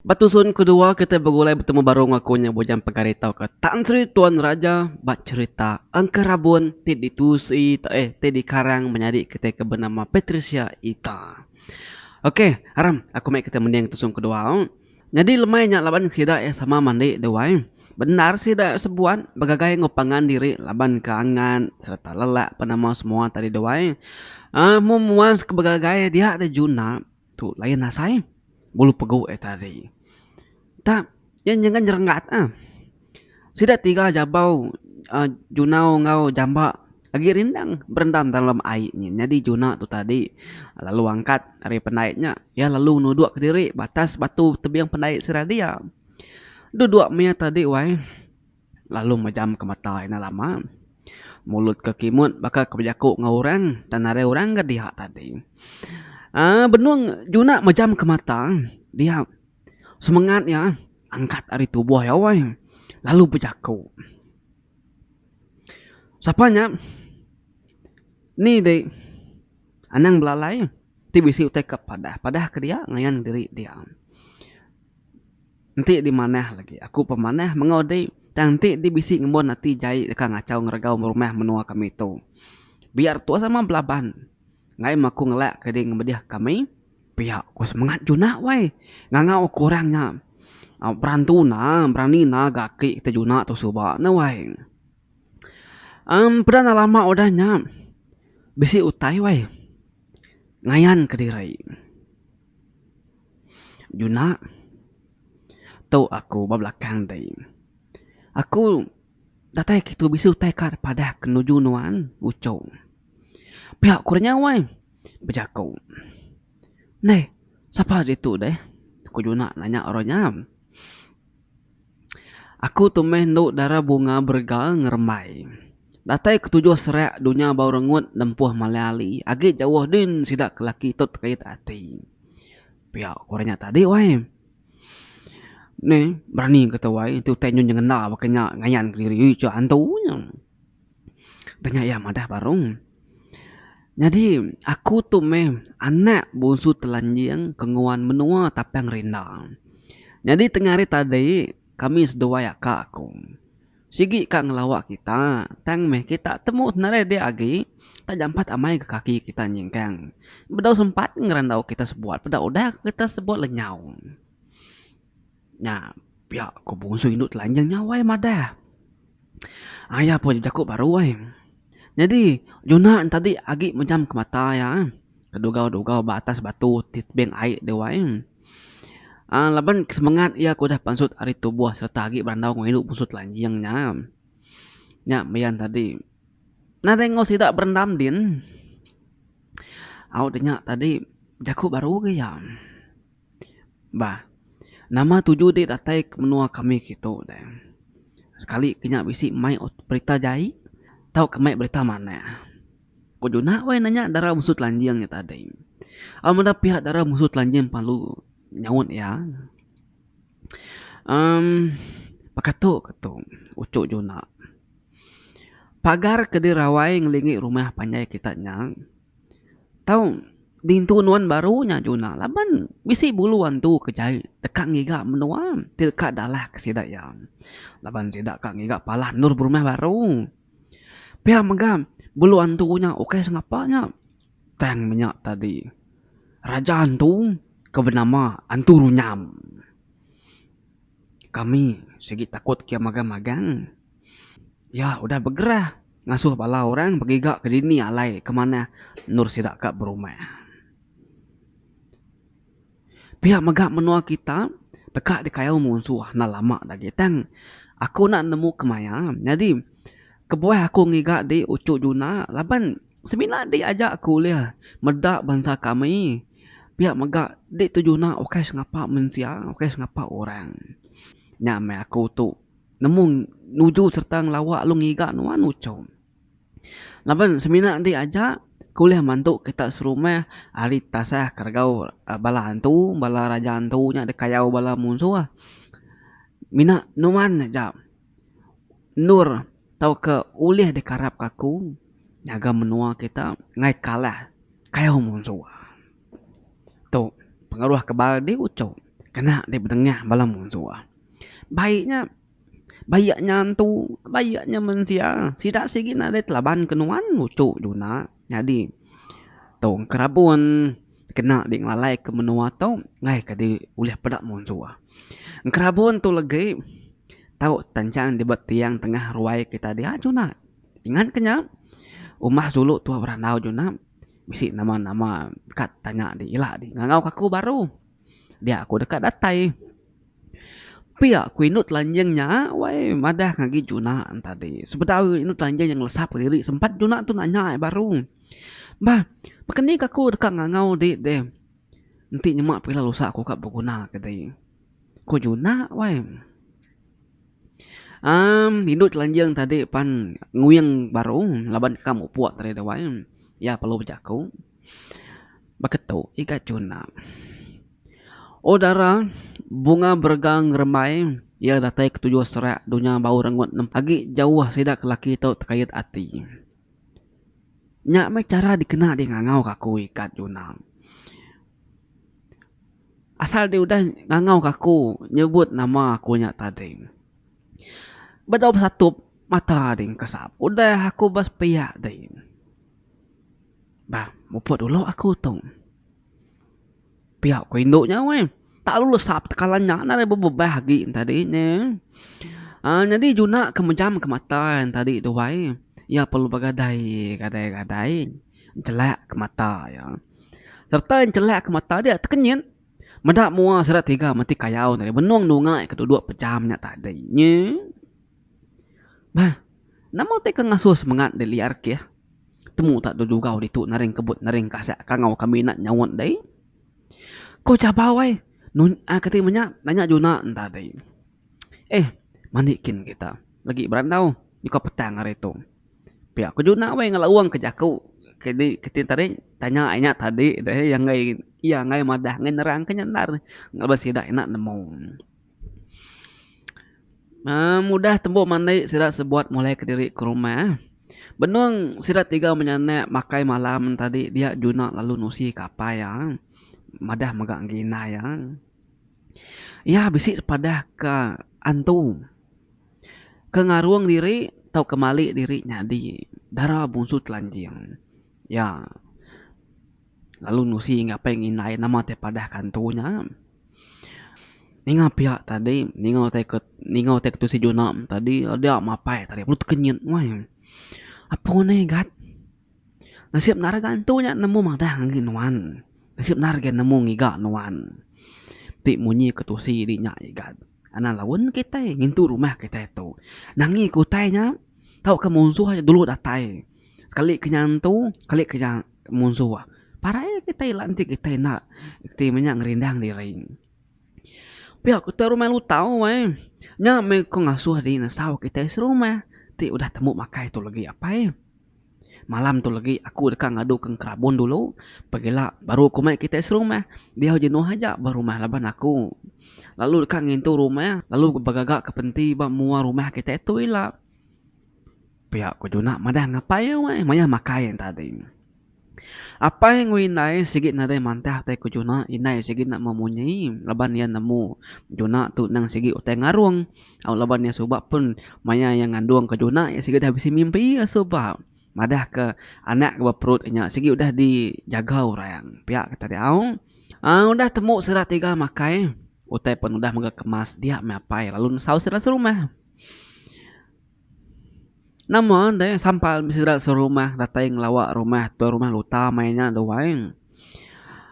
Ba tusun kedua kitai begulai betemu baru enggau aku nya Bujang Pegari tauka Tan Sri Tuan Raja ba cherita Engka Rabun ti ditusi eh ti dikarang menyadi kitai ke benama Patricia Ita. Ok aram aku meh kitai mending tusun kedua. Nyadi lemai nya laban sida iya sama mandi duai. Bendar sida iya sebuan begagai enggau pangan diri laban ke angan sereta lelak penemu semua tadi duai. Amu muas ke begagai dia deh juna. Tu lain asai bulu pegu ai tadi. Tang nya nyengat nyerengat ah. Sida tiga jabau aaa junau enggau jamba agi rindang berendam dalam ai nyin. Nyadi juna tu tadi lalu angkat ari pendai nya iya lalu nuduk kediri ba atas batu tebing pendai seradiau. Duduk maya tadi wai. Lalu majam ke mata ina lama. Mulut ke kimut baka ke bejaku enggau orang tang nadai orang ga diak tadi. Aaa benung juna majam ke mata dia semengat iya angkat ari tubuh iya weh lalu bejaku. Sapa nya ni di anang belalai ti bisi utai ke padah. Padah ke dia ngayan diri dia. Enti dimanah lagi aku pemanah mengau di tang enti di bisi ngembun ati jai deka ngachau ngeregau rumah menua kami tu. Biar tua sama belaban ngai meh aku ngelak ke di ngemedih kami. Pia ku semengat juna wai ngangau aku orang nya berantu na berani na ga aki kita juna tu suba ne wai. Em peda enda lama udah nya bisi utai wai ngayan kediri. Juna, tu aku ba belakang dei. Aku datai kitu bisi utai ka padah ke nuju nuan, uchu. Pia ku renyau ai, bejaku. Neh, sapa ditu deh? ku Juna nanya orang nya. Aku tu meh endo dara bunga berega ngerembai. Datai ketujuh serak dunya bau rengut nempuh malai ali agi jauh din sida ke laki tu terit ati. Pia ku orang nya tadi wai. Meh berani ke tu wai. Tu utai nyun nyengenda baka nya ngayan ke diri ih antu nya. Udah nya iya madah barung. Nyadi aku tu meh anak bungsu telanjing ke nguan menua Tapang Rinda. Nyadi tengah hari tadi kami seduai aka aku sigi ka ngelawa kita tang meh kita temu nadai dia agi tak jampat amai ke kaki kita nyingkang. Bedau sempat ngerandau kita sebuat peda udah kita sebut lenyau. Nya, pia ko bungsu indu telanjang nya wai madah. Aya pun bejako baru wai. Nyadi Jonah enti tadi agi mejam ke mata iya eh kedugau-dugau ba atas batu ti tebing ai deh wai eh. Aaa laban semengat iya ke udah pansut ari tubuh sereta agi berandau enggau indu bungsu telanjang nya. Nya maya ne tadi nadai enggau sida berendam din. Au de nya tadi bejako baru ge iya. Bah, nama tuju dik datai ke menua kami ke tu deh. Sekali ke nya bisi mai berita jai tau ke mai berita manah. Ku juna weh nanya dara mesu telanjing nya tadi. Au meda pihak dara mesu telanjing perlu nyaut iya. Amm pekatu ke tu uchu juna. Pagar ke dirawai ngelingi rumah panjai kita nya Tau dintu nuan baru nya Juna laban bisi bulu antu ke jai deka ngiga menua ti deka dalah ke sida iya laban sida ka ngiga palah endur berumah baru. Pia mega bulu antu nya ukai sengapa nya tang menya tadi raja antu ke benama Antu Runyam. Kami sigi takut ke magang magang. Iya udah begerah ngasuh bala orang begiga ke dini alai ke manah endur sida ka berumah. Pia mega menua kita deka dikayau munsuh enda lama agi nya tang aku enda nemu kemaya nyadi kebuah aku ngiga di uchu juna laban semina adi aja aku ulih meda bansa kami pia mega di tu juna ukai sengapa mensia ukai sengapa orang. Nya meh aku tu. Nemu nuju sereta ngelawa lalu ngiga nuan uchom. Laban semina enti aja ke ulih mantu kita serumah ari tasah keregau bala antu bala raja antu nya dikayau bala munsuh mina nuan aja endur tauka ulih dikarapka aku nyaga menua kita ngai kalah kayau munsuh. Tu pengaruh ke baru di uchup kena di bedengah bala mensia. Baik nya bayak nya entu bayak nya mensia sida sigi nadai telaban ke nuan uchup juna nyadi tu ke rabun kena di ngelalai ke menua tu ngaih ke di ulih peda mensia. Ke rabun tu legi tau tenchang di ba tiang tengah ruai kita diak juna ingat ke nya umbah sulu tuah berandau juna. bisi nama-nama kad tanya di ila di ngangau ka aku baru dia aku deka datai pia ku indu telanjing nya wai madah ngagi juna tadi sebedau indu telanjing nya ngelesap kediri sempat juna tu nanya baru bah baka ni ka aku deka ngangau di deh enti nyema pila lusa aku ka beguna ke dei ku juna wai. Am, indu telanjang tadi pan nguing baru laban ka mupuk tadi dawai. Iya perlu bejaku. Baka tu iga chuna. Oh dara, bunga berega ngerembai, iya datai ketuju serak dunya bau rengut nempa agi jauh sida ke laki tu tekait ati. Nya meh chara dikena deh ngangau ke aku ikat junang. Asal deh udah ngangau ke aku nyebut nama aku nya tadi. Ba dau besatup mata deh kesap. Udah aku ba sepia deh. Bah muput dulu aku tu. Pia ku indu nya weh. Tak lalu lesa betekalan nya nadai bebebah agi tadi nya. Aaa nyadi juna ke mejam ke mata yang tadi tu wai. Iya perlu begadai gadai-gadai chelak ke mata iya. Serta chelak ke mata dia tekenyit meda mua sida tiga mati kayau tadi benung dungai ke duduk pejam nya tadi nye. Bah, nama utai ke ngasuh semengat deh liar keh? Temu tak dulu jugau ditu naring kebut naring kasek kangau ke minat nyaut deh. Ko chabau ai, nun ai keti menya nanya juna enta deh. Eh, mani kin kita legi berandau nyukau petang hari tu. Pia ko juna weh ngelaung ke jaku ke di ke ti tadi tanya ai nya tadi deh iya enggai iya enggai madah enggai nerang ke nya endar laban sida ina nemu. Uhh mudah tembu mandi sida sebuat mulai kediri ke rumah. Benung sida tiga menya enda makai malam tadi dia juna lalu nusi kapai iya. Madah mega enggi indai iya. Iya bisi padah ka antu ke ngarung diri tau ke mali diri nyadi dara bungsu telanjing. Iya. Lalu Nusi ngapai ngi indai nama tai padah kantu nya. Ninga pia tadi ninga utai ke ninga utai ke tusi juna tadi dia mapai tadi perut kenyit weh. Apo ne gat nasib nare kantu nya nemu madah ngi nuan nasib nare ga nemu ngiga nuan ti munyi ke tusi di nya agi gat anak laun kitai ngintu rumah kitai tu nangi ke utai nya tauka munsuh aja dulu datai sekali ke nya antu sekali ke nya. Munsu wah. Parai kitai lantik kitai enda reti menya ngerindang diri. Pia ku tua rumah lutau ai. Nya meh ko ngasuh diri nesau kitai serumah ti udah tembu makai tu legi apai. Malam tu legi aku deka ngadu ke ngerabun dulu pegila baru ku mai kitai serumah. Diau jenuh aja ba rumah laban aku lalu deka ngintu rumah lalu begaga ke penti ba mua rumah kitai tu ila. Pia ku Juna madah ngapai weh maya makai nya tadi. Apai enggau indai sigi nadai mantah utai ku Juna, indai sigi enda memunyi laban iya nemu Juna tu endang sigi utai ngarung. Au laban iya suba pun maya iya ngandung ke Juna iya sigi udah bisi mimpi iya suba madah ke anak ke ba perut inya sigi udah dijaga orang. Pia ke tadi au. Aa udah temu sida tiga makai utai pen udah mega kemas dia meh apai lalu nesau sida serumah. Nama deh sampal meh sida serumah datai ngelawa rumah tuan rumah luta meh inya deh wai.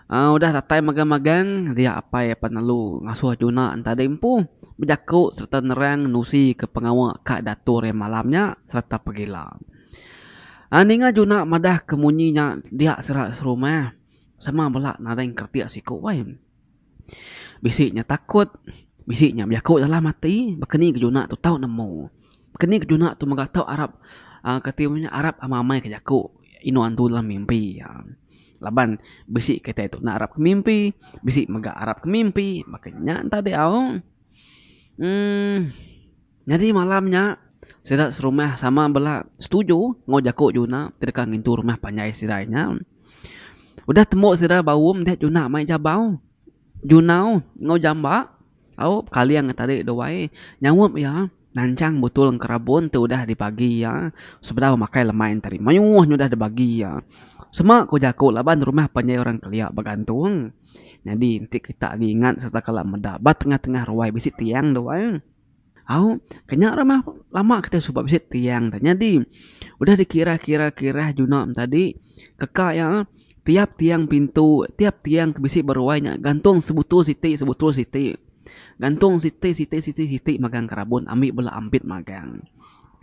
uhh udah datai magang magang dia apai apan lalu ngasuh juna enta deh empu bejaku sereta nerang nusi ke pengawa ka diatur iya malam nya sereta pegila. uhh ninga juna madah ke munyi nya dia sida serumah sama bala nadai engkerti siko wai. Bisi nya takut, bisi nya bejaku dalam ati, baka ni kejuna tu tau nemu. Baka ni kejuna tu mega tau arap uhh kati inya ngaran arap amai-amai ka jaku inu antu dalam mimpi uhh. Laban bisi kitai tu arap ke mimpi, bisi mega arap ke mimpi. Baka nya ntau diau uhh. Nyadi malam nya, sida serumah sama bela setuju enggau jaku Juna ti deka ngintu rumah panjai sidai nya. Udah tembu sida bau meda Juna mai jabau. Juna enggau Jamba au bekaling nya tadi dua ai nyaup iya nanchang butul enkerabun ti udah dibagi iya sebedau makai lemai nya tadi. Mayuh nya udah dibagi iya. Sema ku jaku laban rumah panjai orang kelia begantung. Nyadi enti kita agi ingat sereta kala meda ba tengah-tengah ruai bisi tiang dua ai. Au, ke nya rumah lama kitai suba bisi tiang tu. Nyadi, udah dikira-kira-kira juna nya tadi, teka iya tiap tiang pintu, tiap tiang ke bisi ba ruai nya gantung sebutul siti sebutul siti. Gantung siti siti siti siti magang kerabon ambi bala ambit magang.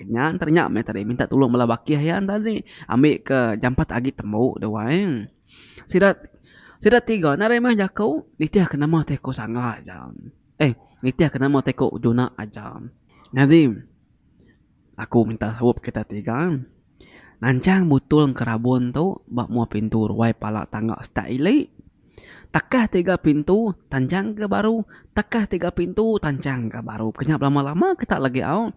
Nya ntah nya meh tadi minta tulung bala bakih iya ntah tadi ambika jampat agi tembu da wang. Sida sida tiga nari meh jaku nitihka nama ti ku sanga ja. Eh, nitihka nama teko juna aja. Nyadi, aku minta saup kita tiga nanchang butul enkerabun tu ba mua pintu ruai pala tangga stat ili. Takah tiga pintu tanchangka baru, takah tiga pintu tanchangka baru. Kenya belama-lama kita lagi au.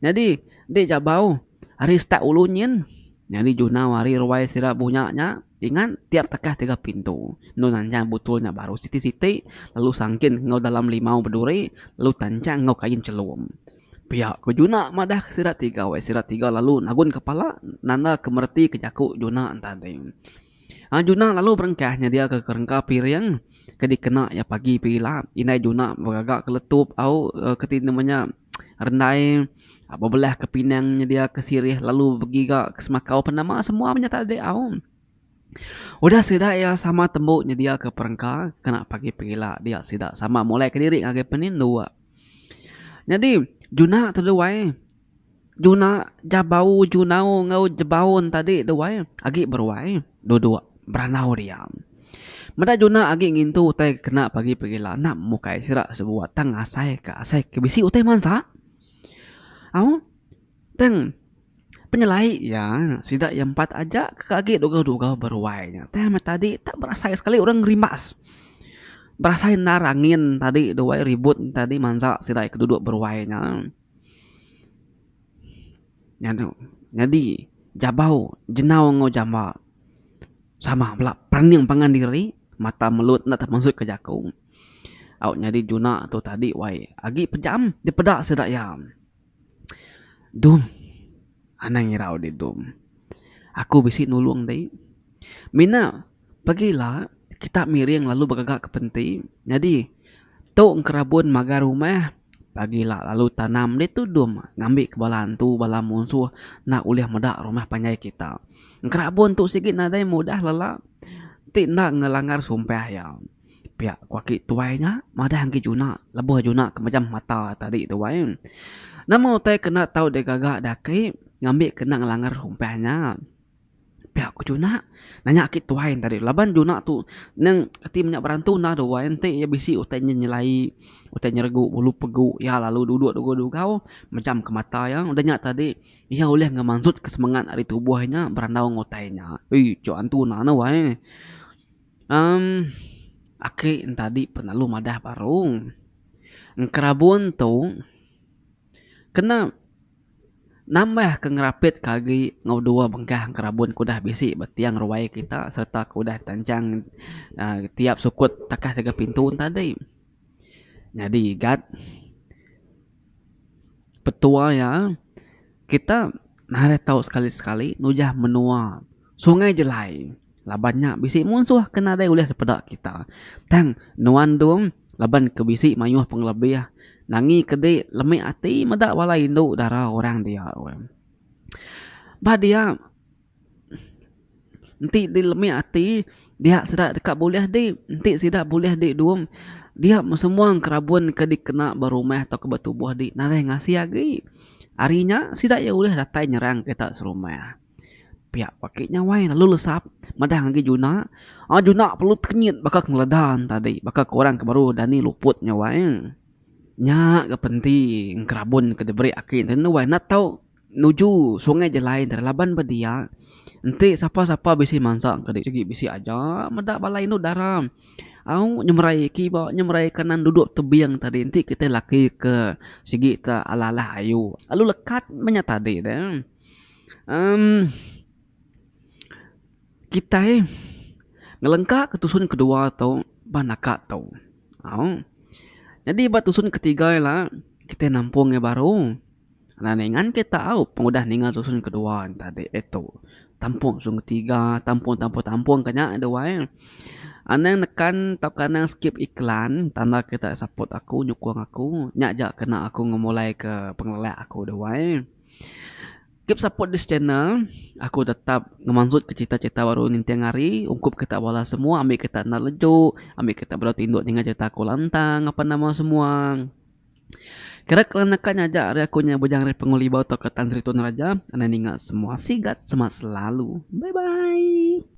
Nyadi enti ja bau ari start ulu nyin nyadi junau ari ruai sida bunya nya ingat tiap tekah tiga pintu endo nancang butul nya baru siti-siti lalu sangkin enggau dalam limau beduri lalu tancang enggau kain chelum. Pia ku juna madah sida tiga weh sida tiga lalu nagun kepala nanda ke mereti ke jaku juna enta deh. Anak Juna lalu berengkah nyediaka kerengka piring ke dikena iya pagi pagi ila. Indai Juna begaga ke letup au ke ti nama nya rendai bebelah ke pinang nyedia ke sirih lalu begiga ke semakau pan nama semua menyat tadi au. Udah sida iya sama tembu nyedia ke perengka kena pagi pagi ila dia sida sama mulai kediri ngagai penindu. Nyadi Juna teduai. Juna Jabau Junau enggau Jebaun tadi duai agi beruai duduk berandau dia. Meda Juna agi ngintu utai kena pagi pegila enda mukai sida sebuah tang asai ka asai ka bisi utai mansa au tang penyelai iya sida iya empat aja ka agi dugau dugau beruai nya tai meh tadi enda berasai sekali orang ngerimbas berasai endar angin tadi duai ribut tadi mansa sida ke duduk beruai nya. Nyadi jabau jenau enggau jamba sama bala perening pangan diri mata melut enda temasuk ka jaku au nyadi juna tu tadi wai agi pejam dipeda sida iya. Dom anang irau deh dom aku bisi nulung deh mina. Pagi ila, kita miring lalu begaga ke penti. Nyadi, tu engkerabun magar rumah. Pagi ila lalu tanam deh tudung ngambika bala antu, bala munsuh enda ulih meda rumah panjai kita. Engkerabun tu sigi nadai mudah lala ti enda ngelanggar sumpah iya. Pia ku aki tuai nya, madah enggi juna lebuh juna ke mejam mata tadi tu ai. Nama utai ke enda tau digaga daki ngambika enda ngelanggar sumpah nya? Pia ku Juna nanya aki tuai ne tadi tu laban Juna tu neng ti menya berantu enda dua enti iya bisi utai nyelai utai nyeregu ulu pegu iya lalu duduk dugau-dugau mejam ke mata iya udah nya tadi iya ulih ngemansut ke semangat ari tubuh inya berandau ngan utai nya. Oi cuk antu na ne wai emm aki ne tadi pun lalu madah baru. Enkerabun tu kena. Nambah ke ngerapitka agi enggau dua bengkah engkerabun ke udah bisi ba tiang ruai kita sereta ke udah terancang tiap sukut takah ngagai pintu tadi. Nyadi gat petua iya kita narai tau sekali sekali nujah menua. Sungai Jelai laban nya bisi munsuh ke nadai ulih dipeda kita. Tang nuan dung laban ke bisi mayuh pengelebih nangi ke di lemi ati meda bala indu dara orang dia weh. Ba dia enti di lemi ati dia sida deka bulih di enti sida bulih di dung dia semua kerabun ke dikena ba rumah atau ke ba tubuh di nadai ngasi agi. Ari nya sida iya ulih datai nyerang kita serumah. Pia ku aki nyawai lalu lesap madah ngagai juna, aaa juna perlu tekenyit baka ngeleda tadi baka ke orang ke baru dani luput nyawa e. Nya ga penti ngerabun ke diberi aki ne enda wai nak tau nuju sungai jalai deh laban ba dia enti sapa sapa bisi mansa ke di sigi bisi aja meda bala indu dara au nyemerai kiba nyemerai kanan dudok tebing tadi enti kitai laki ke sigi te alah alah ayu lalu lekat menya tadi deh. Em kitai ngelengka ke tusun kedua tu bah naka tu au nyadi ba tusun ketiga ila kitai nampung iya baru na ningan ke tau pengudah ninga tusun kedua tadi eh tu tampung tusun ketiga tampung tampung tampung ke nya deh wai anang nekan tauka anang skip iklan tanda kita saput aku nyukung aku nya ja kena aku ngemulai ke pengelelak aku deh wai. Keep support this channel aku tetap ngemansut ke cerita cerita baru ninting hari ungkup kita bala semua ambi kita enda leju ambi kita bala tindu ninga cerita aku lantang apan nama semua kira kala naka nyaja ari aku nya bujang ari penghulu iban tauka tan sri tun raja anang ninga semua sigat semangat selalu bye bye.